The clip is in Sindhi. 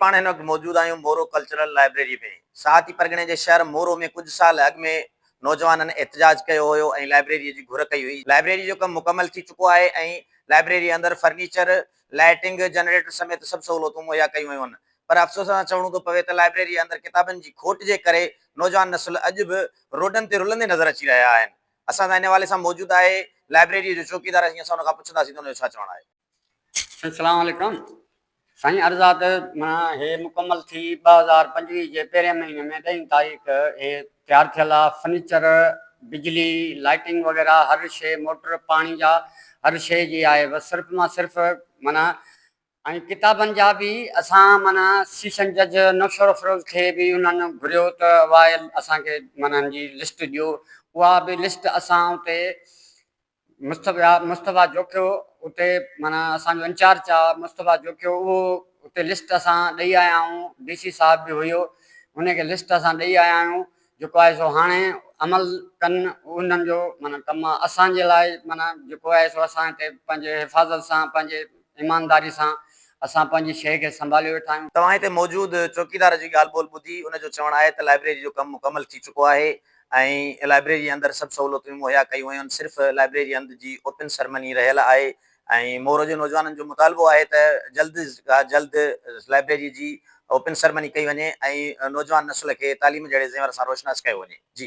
پاڻ هن وقت موجود آهيون مورو ڪلچرل لائبريري ۾. ساهتي پرڳڻي جي شهر مورو ۾ ڪجهه سال اڳ ۾ نوجوانن احتجاج ڪيو هيو ۽ لائبريري جي گهر ڪئي هئي. لائبريري جو ڪم مڪمل ٿي چڪو آهي ۽ لائبريري اندر فرنيچر، لائيٽنگ، جنريٽر سميت سڀ سهولتون مهيا ڪيون ويون آهن پر افسوس سان چوڻو ٿو پوي ته لائبريري اندر ڪتابن جي کوٽ جي ڪري نوجوان نسل اڄ به روڊن تي رلندي نظر اچي رهيا آهن. اسان سان ان حوالي سان موجود آهي لائبريري جو چوڪيدار اسين ان کان پڇنداسين ته ان جو ڇا چوڻ آهي. اسلام عليڪم سائين عرض آ ته معنيٰ هي مڪمل ٿي ٻه هزار پنجويهه جي پهرين مهيني ۾ ڏهين تاريخ هي تيار ٿيل آ فرنيچر بجلي لائٽنگ وغيره هر شي موٽر پاڻي جا هر شي جي آهي بس صرف مان صرف معنيٰ ۽ ڪتابن جا به اسان معنيٰ سيشن جج نوشهرافروز کي به انهن گهريو ته واء اسان کي معنيٰ ان جي لسٽ ڏيو اها به لسٽ اسان اتي مصطفيٰ جوکيو اتي معنيٰ اسان جو انچارج آ مصطفيٰ جوکيو اهو اتي لسٽ اسان ڏئي آيا آهيون ڊي سي صاحب به هيو ان کي لسٽ اسان ڏئي آيا آهيون جيڪو آهي سو هاڻي عمل ڪن انهن جو معنيٰ ڪم آ اسان جي لاء معنيٰ جيڪو آهي سو اسان هتي پنهنجي حفاظت سان پنهنجي ايمانداري سان اسان پنهنجي شيء کي سنڀاليو ويٺا آهيون. توهان هتي موجود چوڪيدار جي ڳالهه ٻولهه ٻڌي ان جو چوڻ آهي ته لائبريري جو ڪم مڪمل ٿي چڪو آهي ۽ لائبريري اندر سڀ سهولتون به مهيا ڪيون ويون آهن صرف لائبريري اند جي اوپن سرمني رهيل آهي ۽ مورو جي نوجوانن جو مطالبو آهي ته جلد کان جلد لائبريري جي اوپن سرمني ڪئي وڃي ۽ نوجوان نسل کي تعليم جهڙي زيور سان روشناس ڪيو وڃي جي.